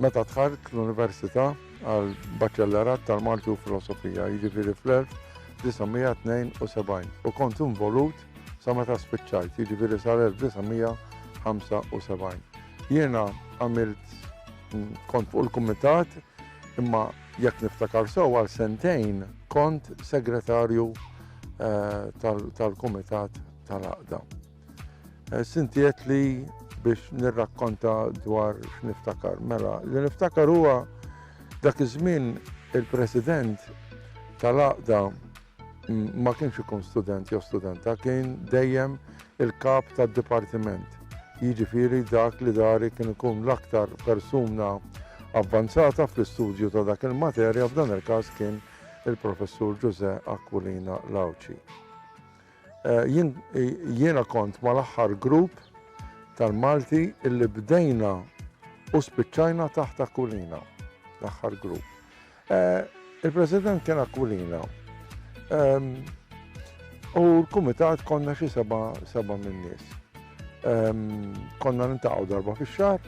Meta dħalt l-Università għal Baċellerat tal-Malti u Filosofija, jiġifieri fl-1972, u kont involut sa meta spiċċajt, jiġifieri sal-1975. Jiena għamilt kont fuq il-kumitat imma jekk niftakar sew għal sentejn kont segretarju eh, tal-kumitat tal-għaqda. Sinti qed li biex nirrakkonta dwar x'niftakar. Mela, li niftakar huwa dak iż-żmien il-President tal-Aqda ma kienx ikun student jew studenta, kien dejjem il-kap tad-dipartiment. Jiġifieri dak li dari kien ikun l-aktar persuna avvanzata fl-istudju ta' dak il-materja f'dan il-każ kien il-Professur Ġużè Aquilina Lawċi. Jiena kont mal-aħħar grupp tal-Malti illi bdejna u spiċċajna taħt Aquilina. L-aħħar grupp. Il-President kien Aquilina. U l-Kumitat konna xi seba' seba' min-nies. Konna nintaqgħu darba fix-xahar,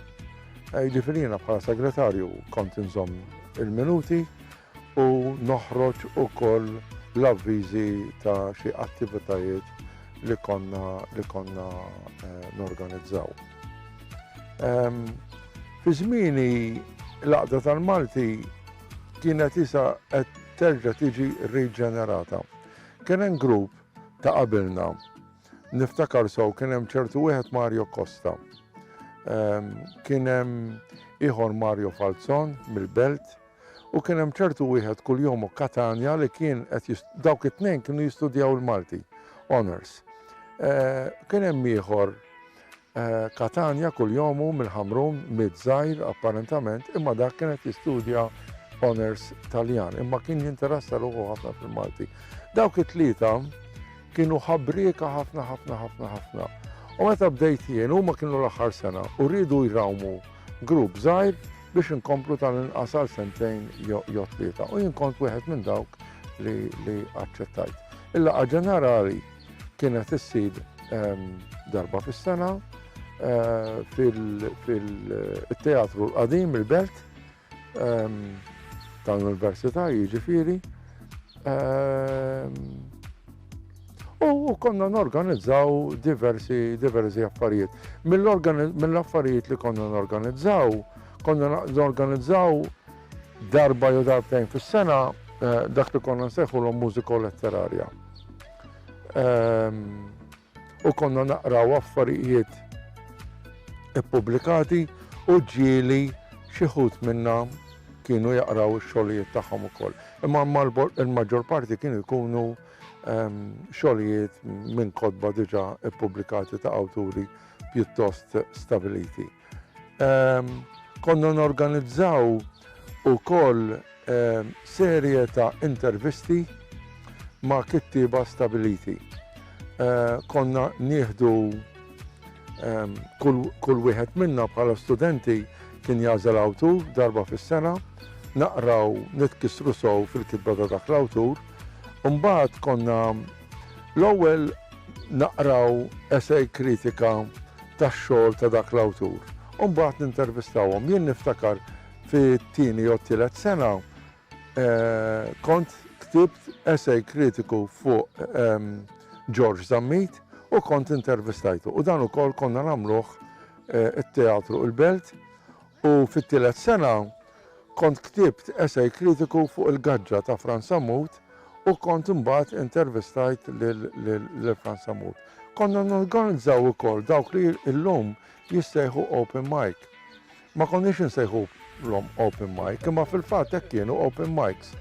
jiġifieri jiena bħala segretarju kont inżomm il-minuti u noħroġ ukoll l-avviżi ta' xi attivitajiet li konna li konna norganizzaw. Fi żmieni l-Għaqda tal-Malti kienet isa qed terġa' tiġi riġenerata. Kien hemm grupp ta' qabilna, niftakar sew kien hemm ċertu wieħed Mario Costa, kien hemm ieħor Mario Falzon mill-Belt, U kien hemm ċertu wieħed kuljum u Catania li kien qed jis dawk it-tnejn kienu jistudjaw il-Malti, honours. Kien hemm ieħor Catania kuljum u mill-Ħamrun, mid żgħir apparentament, imma dak kien qed jistudja honours Taljan, imma kien jinteressa ruħu ħafna fil-Malti. Dawk it-tlieta kienu ħabrieka ħafna ħafna ħafna ħafna. U meta bdejt jien, huma kienu l-aħħar sena u rridu jrawmu grupp żgħir biex inkomplu tal-inqas għal sentejn jew tlieta u jien kont wieħed minn dawk li aċċettajt. Il-laqgħa ġenerali kienet issir ehm, darba fis-sena eh, fil-teatru eh, l-qadim il-belt ehm, tal-Università jiġifieri. Ehm, U konna norganizzaw diversi, diversi affarijiet. Mill-affarijiet li konna norganizzaw, konna norganizzaw darba jew darbtejn fis-sena eh, dak li konna nsejħu l mużiko letterarja. Ehm, u konna naqraw affarijiet ippubblikati u ġieli xi minna kienu jaqraw ix-xogħlijiet tagħhom ukoll. Imma l-maġġor parti kienu jkunu xogħlijiet minn kotba diġà ppubblikati ta' awturi pjuttost stabiliti. Konna norganizzaw ukoll serje ta' intervisti ma' kittieba stabiliti. Konna nieħdu Ehm, kull wieħed minna bħala studenti kien jażel awtur darba fis-sena, naqraw nitkissru sow fil-kitba ta' dak l-awtur, Umbat konna l-ewwel naqraw esej kritika tax-xogħol ta' dak l-awtur. Umbat nintervistawhom. Jien niftakar fit-tieni jew tielet sena Kont ktibt essay kritiku fuq George Zammit u kont intervistajtu. U dan ukoll konna nagħmluh it-Teatru il-Belt u fit-tielet sena kont ktibt essay kritiku fuq il-gaġġa ta' Frans Sammut u kont imbagħad intervistajt lil Frans Sammut. Konna norganizzaw ukoll dawk li illum jissejħu open mic. Ma konniex insejħulhom open mic, imma fil-fatt hekk kienu open mics.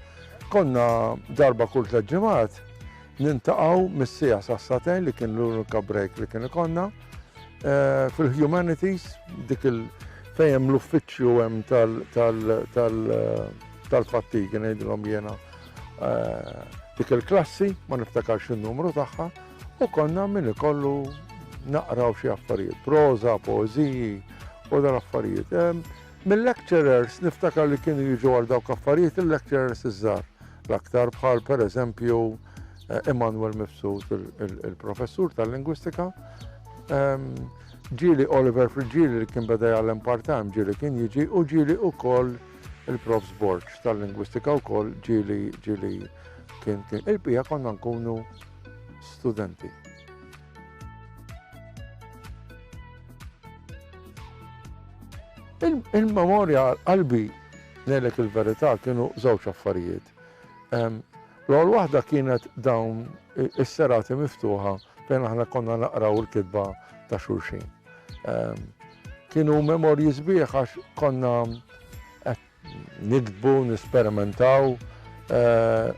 Konna darba kull tliet ġimgħat nintaqgħu mis-sija sas-satejn li kien l-unika break li kien ikonna eh, fil-humanities dik il- fejem l-uffiċċju hemm tal-fattigi ngħidilhom jiena eh, dik il-klassi ma niftakarx in-numru tagħha u konna min ikollu naqraw xi affarijiet, proża, poeżiji, u dan affarijiet. Mill-lecturers niftakar li kienu jiġu għal dawk affarijiet il-lecturers iż-żar. L-aktar bħal per eżempju Immanuel eh, Mifsud, il-professur tal-lingwistika, ehm, ġili Oliver Frigili li kien beda jgħallem part-time ġili kien jiġi u ġili u koll il-prof Sborg tal-lingwistika u koll ġili ġili kien kien il-pija konna nkunu studenti. Il-memorja qalbi ngħidlek il-verità kienu żewġ affarijiet. L-għol waħda kienet dawn is-serati miftuħa fejn aħna konna naqraw il-kitba ta' xulxin. Kienu memorji sbieħ għax konna qed Niktbu, nesperimentaw,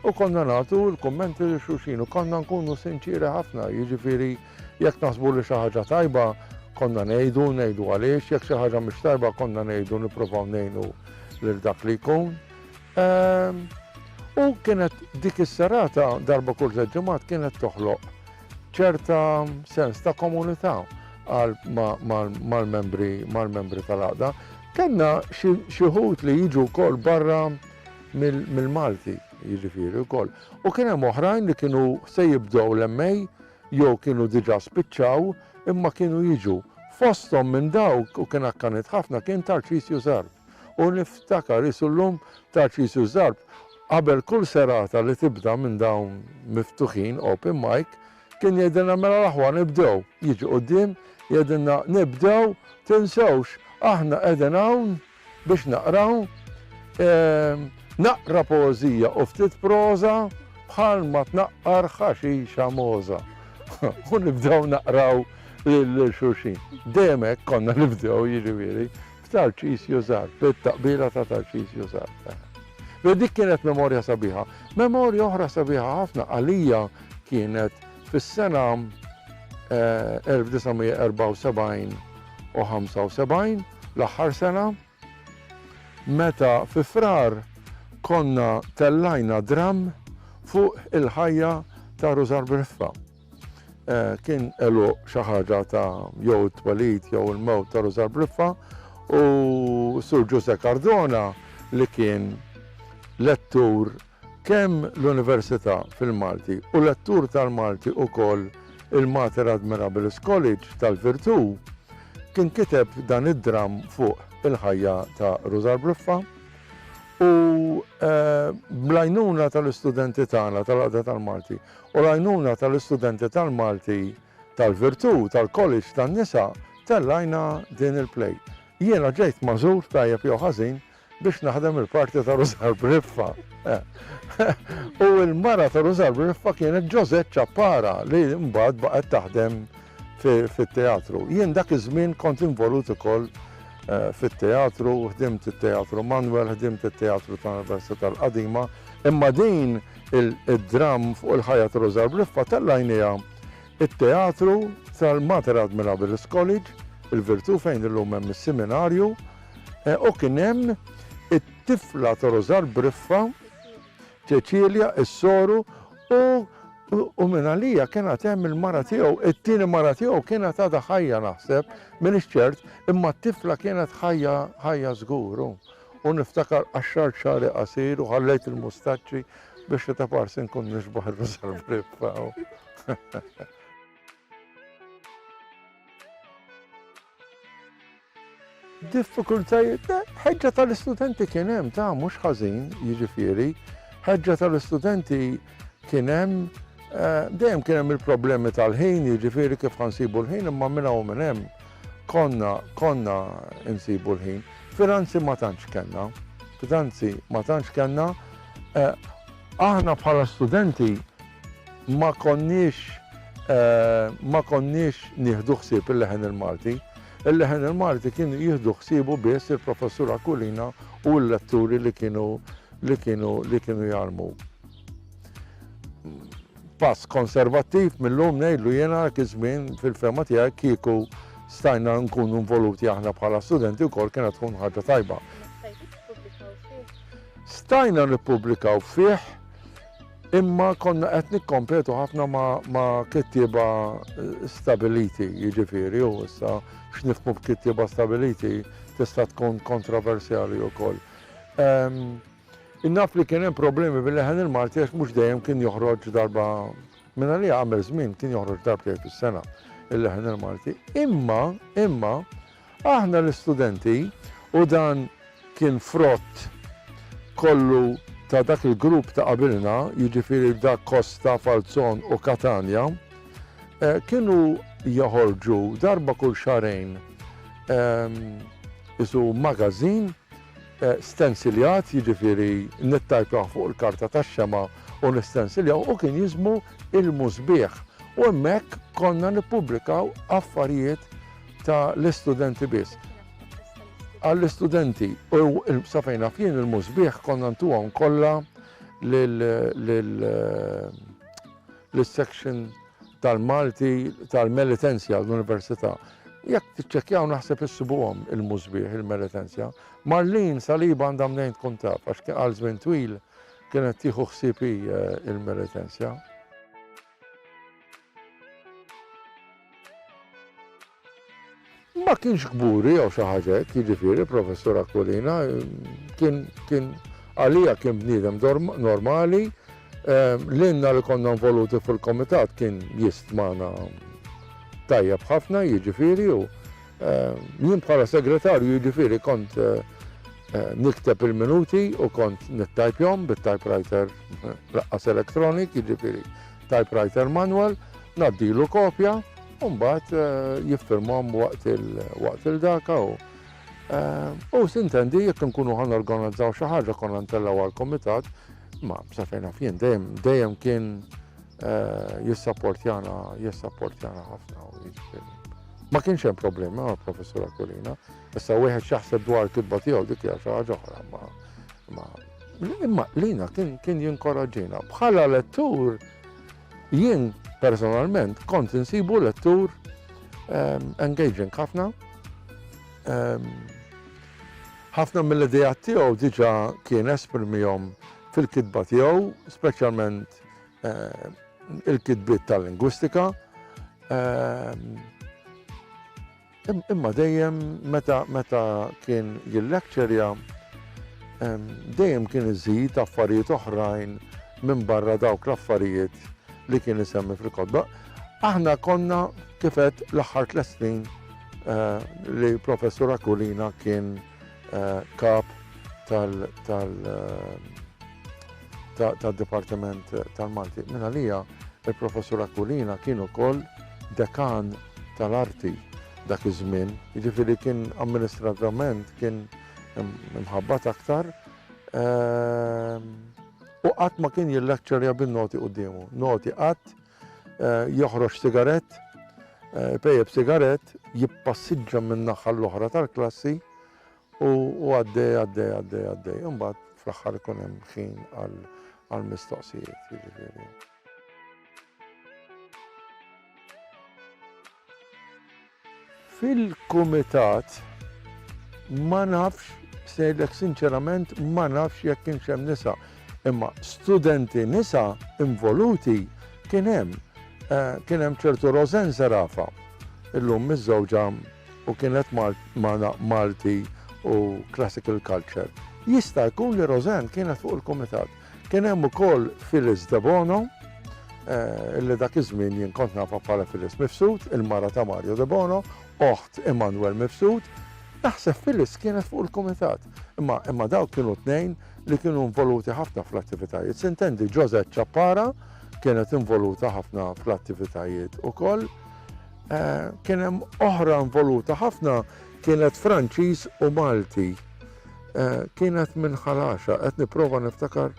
u konna nagħtu l-kummenti lil xulxin u konna nkunu sinċieri ħafna, jiġifieri jekk naħsbu li xi ħaġa tajba konna ngħidu, ngħidu għaliex, jekk xi ħaġa mhix tajba konna ngħidu nippruvaw ngħinu lil dak li jkun. U kienet dik is-serata darba kull tliet ġimgħat kienet toħloq ċerta sens ta' komunità mal-membri tal-għaqda. Kenna xieħut li jiġu kol barra mill-Malti, jiġifieri kol. U kien hemm oħrajn li kienu se jibdew l-emmej jew kienu diġà spiċċaw imma kienu jiġu. Fosthom minn dawk u kien akkanit ħafna kien Tarċisju Sar. U niftakar qisu llum Tarċisju Zarb qabel kull serata li tibda minn dawn miftuħin, open mic, kien jgħidilna mela l-aħwa nibdew, jiġi quddiem jgħidilna nibdew tinsewx aħna qegħdin hawn biex naqraw naqra poeżija u ftit proża bħalma tnaqqar ħaxixa mogħża. U nibdew naqraw lil xulxin. Dejjem hekk konna nibdew jiġifieri. Tarċisju żgħar, bit-taqbila ta' Tarċisju żgħar. Beh, dik kienet memorja sabiħa. Memorja oħra sabiħa ħafna għalija kienet fis-sena 1974 eh, u 75, l-aħħar sena, meta fi frar konna tellajna dram fuq il-ħajja ta' Rużar Briffa. Eh, kien elu xi ħaġa ta' jew it-twelid jew il-mewt ta' Rużar Briffa u Sur Ġuse Cardona li kien lettur kemm l-Università fil-Malti u lettur tal-Malti u koll il-Mater Admirabilis College tal-Virtu kien kiteb dan id-dram fuq il-ħajja ta' Rużar Briffa u eh, blajnuna tal-istudenti tagħna tal-għada tal-Malti u l-għajnuna tal-istudenti tal-Malti tal-Virtù tal-College tan-Nisa tellajna din il-play. Jiena ġejt magħżul tajjeb jew ħażin biex naħdem il-parti ta' Rużar Briffa. U l-mara ta' Rużar Briffa kienet Ġożett Ċappara li mbagħad baqgħet taħdem fit-teatru. Jien dak iż-żmien kont involut ukoll eh, fit-teatru, ħdimt it-teatru Manuel, ħdimt it-teatru tal-Università tal-Qadima, imma din Id-dramm fuq il-ħajja ta' Roża Briffa tella' għajnejha t-teatru tal-Mater Admira Beres College, il-Virtù fejn illum hemm is-Siminarju, u kien hemm it-tifla ta' Roża Briffa, Ċeċilja, is-soru, u minn għalija kien għad hemm il-mara tiegħu, it-tieni mara tiegħu kienet għadha ħajja naħseb, m'iniex ċert, imma t-tifla kienet ħajja żgur. U niftakar qaxxart xagħri qasir u ħallejt il-mustaċċi biex li ta' parsi nkun nixbaħ ir-Rużal Briffa. diffikultajiet, eh, ħeġġa tal-istudenti kien hemm ta' mhux ħażin, jiġifieri, ħeġġa tal-istudenti kien hemm eh, dejjem kien hemm il-problemi tal-ħin, jiġifieri kif ħansibu l-ħin imma minn hawn minn hemm. Konna, konna insibu l-ħin. Finanzi ma tantx kellna. Finanzi ma tantx kellna. Aħna bħala studenti ma konniex ma konniex nieħdu ħsieb il-leħen il-Malti. Il-leħen il-Malti kienu jieħdu ħsiebu biss il-Professur Aquilina u l-letturi li kienu li kienu li kienu jgħallmuk. Pass konservattiv mill-lum ngħidlu jiena dak iż-żmien fil-fehma tiegħi kieku stajna nkunu involuti aħna bħala studenti wkoll kienet tkun ħaġa tajba. Stajna nippubblikaw fih imma konna qed nikkompetu ħafna ma' kittieba eh, stabiliti, jiġifieri u issa x'nifmu b'kittieba stabiliti tista' tkun kontroversjali wkoll. Ehm, Jien naf li kien hemm problemi bil-leħen il-Malti għax mhux dejjem kien joħroġ darba minn għalija għamel żmien kien joħroġ darbtejn fis-sena il-leħen il-Malti. Imma, imma, aħna l-istudenti u dan kien frott kollu ta' dak il-grupp ta' qabilna, jiġifieri Da Costa, Falzon u Katanja, eh, kienu joħorġu darba kull xarejn ehm, isu magazin stensiljat, jiġifieri nittajpjawh fuq il-karta tax-xemgħa u nistensiljawh, u kien jiżmu ilmu sbieħ. U hemmhekk konna nippubblikaw affarijiet ta' l-istudenti biss. Għall-istudenti, u sa fejn naf jien ilmu sbieħ konna ntuhom kollha lil-section tal-Malti tal-Melitenzja l-Università. Jekk tiċċekkjaw naħseb issibuhom il-musbieħ il-Melitenzja. Marlin Saliba għandha mnejn tkun taf għax kien għal żmien twil kienet tieħu ħsieb eh, il-Melitenzja. Ma kienx kburi jew xi ħaġa hekk, jiġifieri, Professur Aquilina, kien, kien, għalija kien bniedem normali, lilna li konna involuti fil-Kumitat kien jistmana tajjeb ħafna, jiġifieri, u jien bħala Segretarju, jiġifieri, kont nikteb il-minuti u kont nittajpjhom bit-typewriter laqqas electronic, jiġifieri typewriter manual, ngħaddilu kopja, u mbagħad eh, jiffirmhom waqt il-daka u eh, u sintendi jekk nkunu ħan organizzaw xi ħaġa konna ntellaw għall-komitat, ma sa fejn fien dejjem dejjem kien eh, jissapportjana jissapportjana ħafna u jiġifieri. Ma kienx hemm problemi ma' professura Kulina, issa wieħed x'jaħseb dwar kitba tiegħu dik hija xi ħaġa oħra ma imma lina kien jinkoraġġina. Bħala lettur Jien personalment kont insibu lettur ehm, engaging ħafna. Ehm, ħafna mill-idejat tiegħu diġà kien esprimihom fil-kitba tiegħu, speċjalment eh, il-kitbiet tal-lingwistika. Ehm, Imma dejjem meta meta kien jillecturja dejjem kien iżid affarijiet oħrajn minn barra dawk l-affarijiet li kien isemmi fil-kotba. Aħna konna kifet l-aħħar tliet snin eh, li professur Akulina kien eh, kap tal- eh, tad-Dipartiment tal-Malti. Minn għalija, il-Professur Aquilina kien ukoll dekan tal-arti dak iż-żmien, jiġifieri kien amministrativament kien imħabbat aktar ehm, u qatt ma kien jillekċerja bin-noti quddiemu. Noti qatt eh, joħroġ sigarett, eh, pejjeb sigarett, jippassiġġa minn naħa l-oħra tal-klassi U għaddej, għaddej, għaddej, għaddej. Imbagħad fl-aħħar ikun hemm ħin għall-mistoqsijiet, jiġifieri. Fil-kumitat ma nafx sejlek sinċerament ma nafx jekk kienx hemm nisa. Imma studenti nisa involuti kien hemm. Eh, kien hemm ċertu Rosen Serafa, illum miż-żewġa u kienet magħna Malti u Classical Culture. Jista' jkun li Roseanne kienet fuq il-kumitat. Kien hemm ukoll Phyllis Debono, illi dak iż-żmien jien kont nafha bħala Phyllis Mifsud, il-mara ta' Mario Debono, oħt Emmanuel Mifsud. Naħseb Phyllis kienet fuq il-kumitat. Imma imma dawk kienu tnejn li kienu involuti ħafna fl-attivitajiet. Sintendi Josette Ciappara kienet involuta ħafna fl-attivitajiet ukoll. Kien hemm oħra involuta ħafna kienet Franċiż u Malti. Kienet minn ħalaxa, qed nipprova niftakar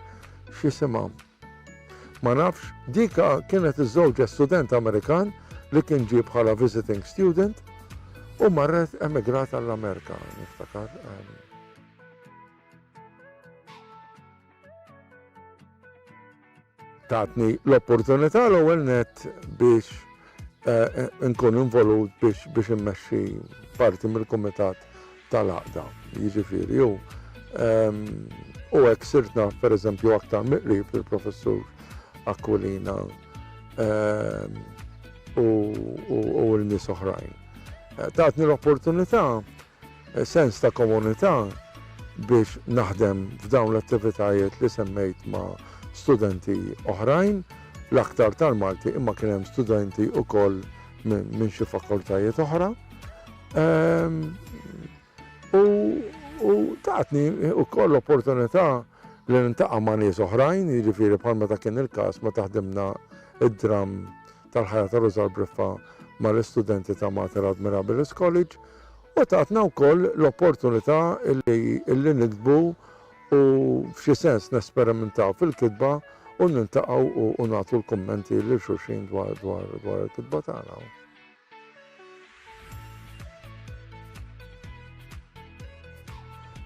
x'isimha. Ma nafx, dika kienet iż-żewġa student Amerikan li kien ġie bħala visiting student u marret emigrat għall-Amerika, niftakar. Tatni l-opportunità l-ewwel nett biex inkun involut biex immexxi parti mill-kumitat tal-għaqda. Jiġifieri u u hekk sirt naf pereżempju aktar mill-qrib lill-Professur Aquilina u l-nies oħrajn. Tatni l-opportunità sens ta' komunità biex naħdem f'dawn l-attivitajiet li semmejt ma' studenti oħrajn, l-aktar tal-Malti imma kien hemm studenti wkoll minn xi fakultajiet oħra. U tatni wkoll l-opportunità li nintaqa' ma' nies oħrajn, jiġifieri bħal meta kien il-każ meta ħdimna id-dramm tal-ħajja ta' Ruża l-Briffa mal-istudenti ta' Mater Admirabilis College, u tatna wkoll l-opportunità li niktbu u f'xi sens nesperimentaw fil-kitba u niltaqgħu u nagħtu l-kummenti lil xulxin dwar il-kitba tagħna.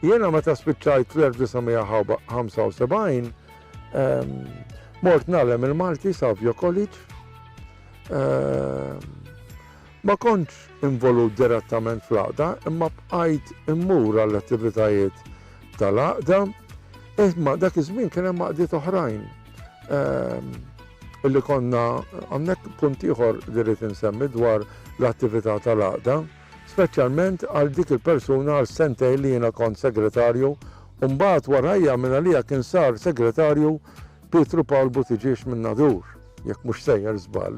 Jiena meta spiċċajt fl-1975 mort nagħlem il-Malti Savio College Ma kontx involut direttament fl-għaqda imma bqajt immur għall-attivitajiet tal-għaqda, imma dak iż-żmien kien hemm għaqdiet oħrajn li konna, hawnhekk punt ieħor li rrid insemmi dwar l-attività tal-għaqda, speċjalment għal dik il-persuna għal sentejn li jiena kont segretarju u mbagħad warajja mingħalija kien sar segretarju Pietru Pawl Buttiġiex minn Nadur, jekk mhux sejjer żball,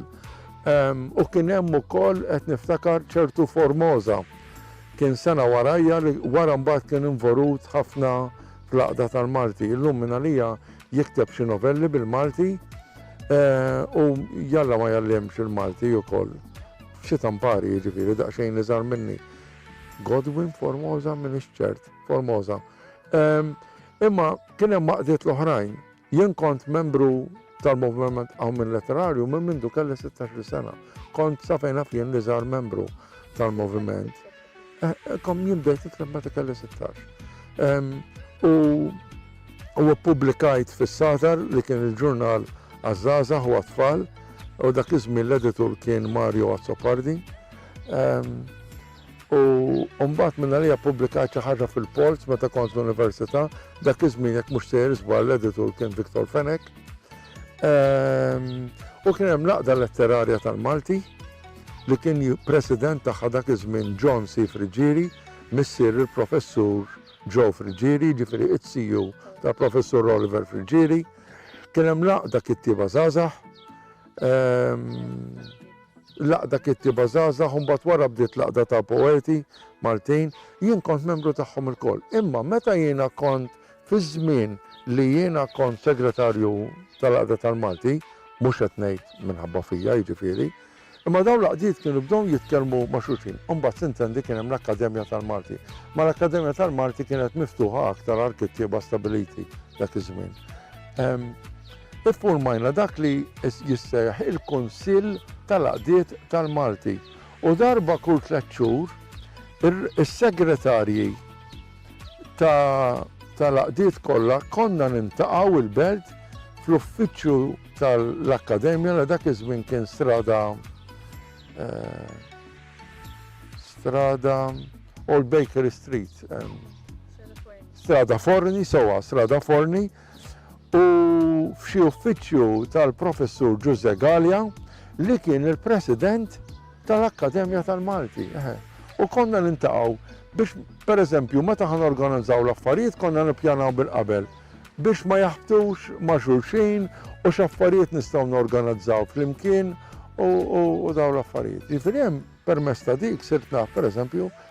u kien hemm ukoll qed niftakar ċertu Formosa. Kien sena warajja li wara mbagħad kien invorut ħafna fl-għaqda tal-Malti. Illum minn għalija jikteb xi novelli bil-Malti eh, u jalla ma jallimx il-Malti ukoll. Xi tampari jiġifieri daqsxejn li żar minni. Godwin Formosa minn ċert, Formosa. Imma kien hemm għaqdiet l-oħrajn. Jien kont membru tal-Movement Qawmien Letterarju minn mindu kelli 16-il sena. Kont sa fejn naf jien l-iżgħar membru tal-moviment. Eh, eh, kom jien bdejt nikteb meta kelli 16. U u publikajt fis-Satar li kien il-ġurnal għaż-żaża u għat-tfal u dak iż-żmien l-editur kien Mario Azzopardi. U mbagħad minnarija ppubblikajt xi ħaġa fil-Polz meta kont l-università, dak iż-żmien jekk mhux sejjer żball l-editur kien Victor Fenech. Ehm, u kien hemm l-Għaqda Letterarja tal-Malti li kien president tagħha dak iż-żmien John C. Friġieri, missier il-professur Joe Friġieri, ġifieri it-siju ta' professur Oliver Friġieri. Kien hemm laqda kittieba żgħażagħ. Ehm, L-Għaqda Kittieba Żgħażagħ u mbagħad wara bdiet l-Għaqda ta' Poeti Maltin, jien kont membru tagħhom ilkoll. Imma meta jiena kont fiż-żmien li jiena kont segretarju tal-Għaqda tal-Malti, mhux qed ngħid minħabba fija jiġifieri, imma dawn l-għaqdiet kienu bdew jitkellmu ma' xulxin. U mbagħad tintendi kien hemm l-Akkademja tal-Malti. Ma l-Akkademja tal-Malti kienet miftuħa aktar għall-kittieba stabiliti dak iż-żmien. Iffurmajna dak li jissejjaħ il-Kunsill tal-Għaqdiet tal-Malti u darba kull tliet xhur is-segretarji tal-għaqdiet kollha konna niltaqgħu il-Belt fl-uffiċċju tal-Akkademja li dak iż-żmien kien Strada eh, Strada Old Bakery Street. Strada Forni, sowa, Strada Forni, u f'xi uffiċċju tal-Professur Ġuże Galja li kien il-President tal-Akkademja tal-Malti. U konna nintaqgħu biex pereżempju meta ħan organizzaw l-affarijiet konna nippjanaw bil-qabel biex ma jaħbtux ma' xulxin u x'affarijiet nistgħu norganizzaw flimkien u daw l-affarijiet. Jifieri hemm permess ta' dik sirtna pereżempju